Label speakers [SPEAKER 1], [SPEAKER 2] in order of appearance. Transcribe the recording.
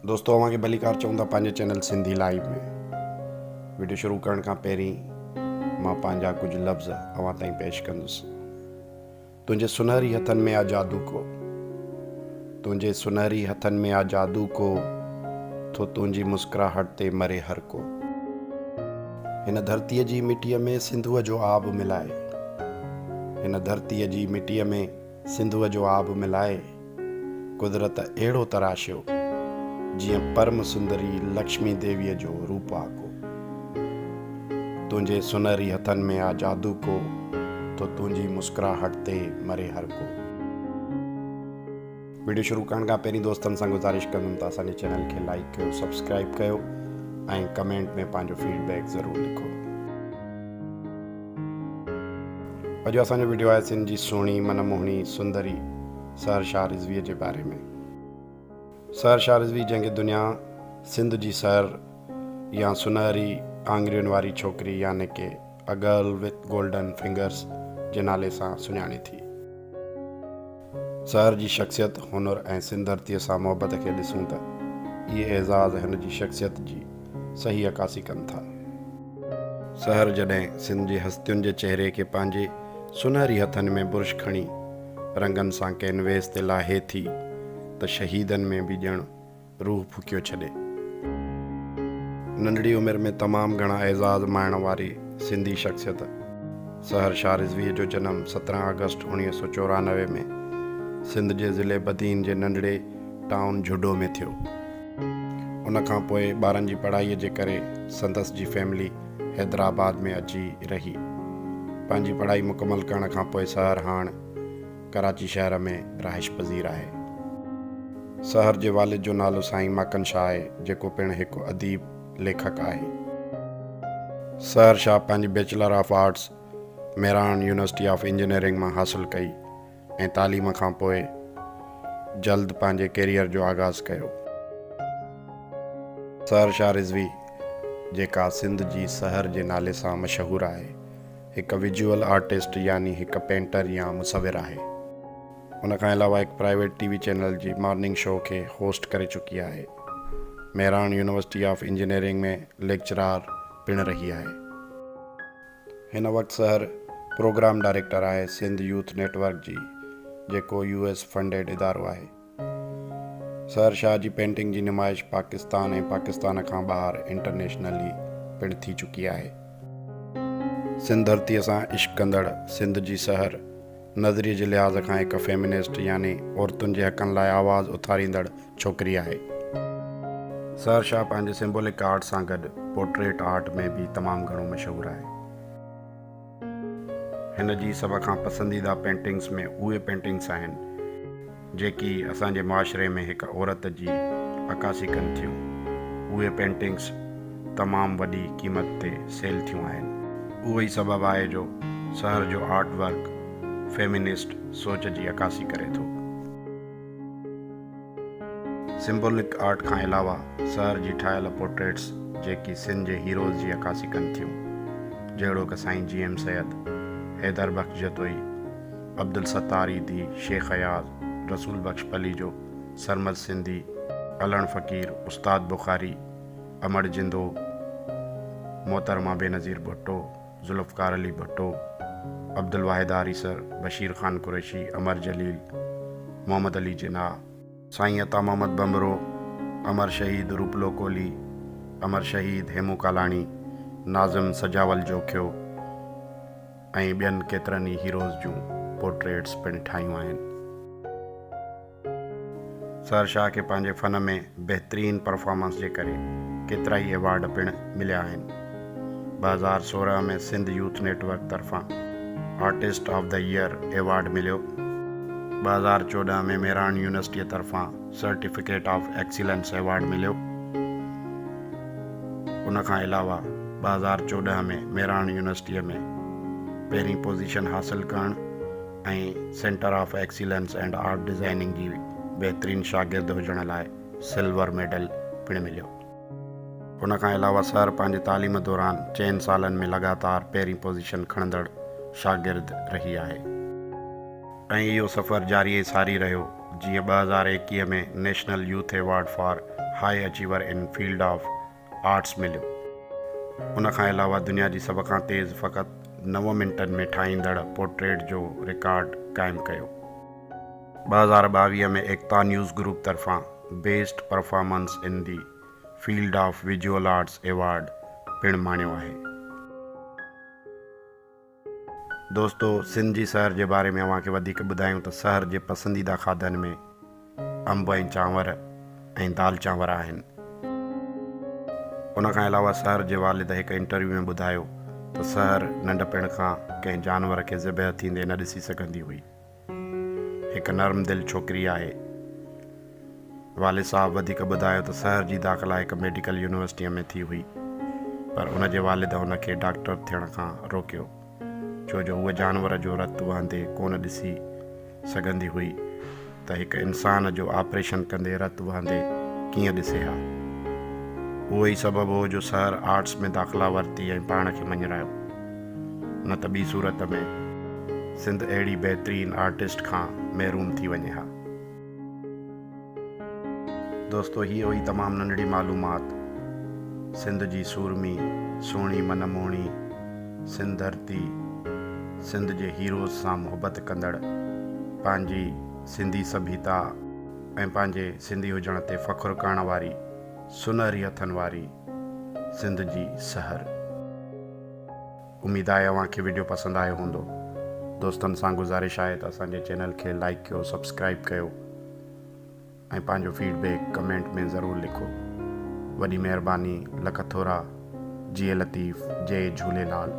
[SPEAKER 1] دوستو اوهان کي ڀليڪار چئون ٿا پنهنجي چينل سنڌي لائيو ۾ وڊيو شروع ڪرڻ کان پهرين مان پنهنجا ڪجهه لفظ اوهان تائين پيش ڪندس تنهنجي سنهري هٿن ۾ آ جادو ڪو تنهنجي سنهري هٿن ۾ آ جادو ڪو ٿو تنهنجي مسڪراهٽ تي مري هر ڪو هن ڌرتيء جي مٽيء ۾ سنڌوء جو آب ملائي هن ڌرتيء جي مٽيء ۾ سنڌوء جو آب ملائي قدرت اهڙو تراشيو، جيئن پرم سندري لڪشمي ديويء جو روپ آ ڪو. تنهنجي سنهري هٿن ۾ آ جادو ڪو، ٿو تنهنجي مسڪراهٽ تي مري هر ڪو. وڊيو شروع ڪرڻ کان پهرين دوستن سان گذارش ڪندم ته اسان جي چينل کي لائيڪ ڪيو سبسڪرائيب ڪيو ۽ ڪمينٽ ۾ پنهنجو فيڊ بيڪ ضرور لکو. اڄ اسان جو ويڊيو آهي سنڌ جي سهڻي من موهڻي سندري سحر شاهه رضويء جي باري ۾. سحر شاهه رضوي جنهن کي دنيا سنڌ جي سحر يا سنهري آڱرين واري ڇوڪري يعني ڪي A Girl With Golden Fingers جي نالي سان سڃاڻي ٿي. سحر جي شخصيت، هنر ۽ سنڌ ڌرتيء سان محبت کي ڏسون ته اهي اعزاز هن جي شخصيت جي صحيح عڪاسي ڪن ٿا. سحر جڏهن سنڌ جي هستين جي چهري کي پنهنجي سونهري هٿن ۾ برش کڻي رنگن سان ڪينويس تي لاهي ٿي ته شهيدن ۾ به ڄڻ روح ڦوڪيو ڇڏي. ننڍڙي عمر ۾ تمام گهڻا اعزاز ماڻڻ واري سنڌي شخصيت سحر شاهه رضويء جو جنم سترهن آگسٽ اوڻيهه سؤ چورانوي ۾ سنڌ جي ضلعي بدين جي ننڍڙي ٽائون جهوڏو ۾ ٿيو. ان کان پوء ٻارن جي پڙهائيء جي ڪري سندس جي فيملي حيدرآباد ۾ اچي رهي. پنهنجي پڙهائي مڪمل ڪرڻ کان پوء سحر هاڻ. ڪراچي شهر ۾ رهائش پذير آهي. سحر جي والد جو نالو سائين ماڪن شاهه آهي، جيڪو پڻ هڪ اديب، ليکڪ، آهي. سحر شاهه پنهنجي bachelor of arts Mehran university of engineering مان حاصل ڪئي ۽ تعليم کان پوء جلد پنهنجي ڪيريئر جو آغاز ڪيو. سحر شاهه رضوي جيڪا سنڌ جي سحر جي نالي سان مشهور آهي، هڪ ويجوئل آرٽسٽ يعني هڪ پينٽر يا مصور آهي. ان کان علاوه هڪ پرائيويٽ ٽي وي چينل جي مارننگ شو کي هوسٽ ڪري چڪي آهي. Mehran university of engineering ۾ lecturer پڻ رهي آهي. هن وقت سحر پروگرام ڊائريڪٽر آهي سنڌ يوٿ نيٽ ورڪ جي جيڪو يو ايس فنڊيڊ ادارو آهي. سحر شاهه جي پينٽنگ جي نمائش پاڪستان ۽ پاڪستان کان ٻاهر انٽرنيشنلي پڻ ٿي چڪي آهي. سنڌ ڌرتيء سان عشق ڪندڙ سنڌ جي سحر، نظريي جي لحاظ کان هڪ فيمنسٽ يعني عورتن جي حقن لاء آواز اٿاريندڙ ڇوڪري آهي. سحر شاهه پنهنجي سمبولڪ آرٽ سان گڏ پورٽريٽ آرٽ ۾ به تمام گهڻو مشهور آهي. هن جي سڀ کان پسنديده پينٽنگز ۾ اهي پينٽنگز آهن جيڪي اسان جي معاشري ۾ هڪ عورت جي عڪاسي ڪن ٿيون. اهي پينٽنگز تمام وڏي قيمت تي سيل ٿيون آهن. اهو ئي سبب آهي جو سحر جو آرٽ ورڪ فيمينسٽ سوچ جي عڪاسي ڪري ٿو. سمبولڪ آرٽ کان علاوه سحر جي ٺاهيل پورٽريٽس جيڪي سنڌ جي هيروز جي عڪاسي ڪن ٿيون جهڙوڪ سائين جي ايم سيد، حيدر بخش جتوئي، عبدالستار عيدي، شيخ اياز، رسول بخش پليجو، سرمد سنڌي، علڻ فقير، استاد بخاري، امڙ جندو، محترمه بينظير ڀٽو، ذوالفقار علي ڀٽو، عبدالواحد آريسر، بشير خان قريشي، امر جليل، محمد علي جناح، سائين عطا محمد ڀنڀرو، امر شهيد روپلو ڪولهي، امر شهيد هيمون ڪالاڻي، ناظم سجاول جوکيو ۽ ٻين ڪيترن ئي هيروز جون پورٽريٽس پڻ ٺاهيون آهن. سحر شاهه کي پنهنجي فن ۾ بهترين پرفارمنس جي ڪري ڪيترائي ايوارڊ پڻ مليا آهن. ٻه هزار سورهن ۾ سنڌ يوٿ نيٽ ورڪ طرفان artist of the year award مليو. ٻه هزار چوڏهن ۾ ميراڻ يونيورسٽيء طرفان سرٽيفڪيٽ آف ايڪسيلنس ايوارڊ مليو. ان کان علاوه ٻه هزار چوڏهن ۾ ميراڻ يونيورسٽيء ۾ پهرين پوزيشن حاصل ڪرڻ، ۽ centre of excellence and art designing جي بهترين شاگرد هجڻ لاء سلور ميڊل پڻ مليو. ان کان علاوه سر پنهنجي تعليم دوران چئن سالن ۾ لڳاتار پهرين پوزيشن کڻندڙ شاگرد رهي آهي. ۽ اهو سفر جاري ۽ ساري رهيو جيئن ٻه هزار ايڪيهه ۾ national youth award for high achiever in field of arts مليو. ان کان علاوه دنيا جي سڀ کان تيز فقط نو منٽن ۾ ٺاهيندڙ پورٽريٽ جو رڪارڊ قائم ڪيو. ٻه هزار ٻاويهه ۾ ايڪتا نيوز گروپ طرفان best performance in the field of visual arts award پڻ ماڻيو آهي. دوستو سنڌ جي سحر جي باري ۾ اوهان کي وڌيڪ ٻڌايون ته سحر جي پسنديده کاڌن ۾ انب ۽ چانور ۽ دال چانور آهن. ان کان علاوه سحر جي والد هڪ انٽرويو ۾ ٻڌايو ته سحر ننڍپڻ کان ڪنهن جانور کي ذبح ٿيندي نه ڏسي سگهندي هئي. هڪ نرم دل ڇوڪري آهي. والد صاحب وڌيڪ ٻڌايو ته سحر جي داخلا هڪ ميڊيڪل يونيورسٽيء ۾ ٿي هئي، پر ان جي والد هن کي ڊاڪٽر ٿيڻ کان روڪيو، ڇو جو هوء جانور جو رت وهندي ڪونه ڏسي سگهندي هئي ته هڪ انسان جو آپريشن ڪندي رت وهندي ڪيئن ڏسي ها. اهو ئي سبب هو جو سحر آرٽس ۾ داخلا ورتي ۽ پاڻ کي مڃرايو. نه ته ٻي صورت ۾ سنڌ اهڙي بهترين آرٽسٽ کان محروم ٿي وڃي ها. دوستو هيء هئي تمام ننڍڙي معلومات سنڌ جي سورمي، سهڻي من موهڻي سنڌ ڌرتي، سنڌ جي هيروز سان محبت ڪندڙ، پنهنجي سنڌي سڀيتا ۽ پنهنجي سنڌي هجڻ تي فخر ڪرڻ واري سنهري هٿن واري سنڌ جي سحر. اميد آهي اوهان کي ويڊيو پسند آيو هوندو دوستن سان گذارش آهي ته اسان جي چينل کي لائيڪ ڪيو سبسڪرائيب ڪيو ۽ پنهنجو فيڊ بيڪ ڪمينٽ ۾ ضرور لکو وڏي مهرباني لک ٿورا جئي لطيف جئي جهوليلال.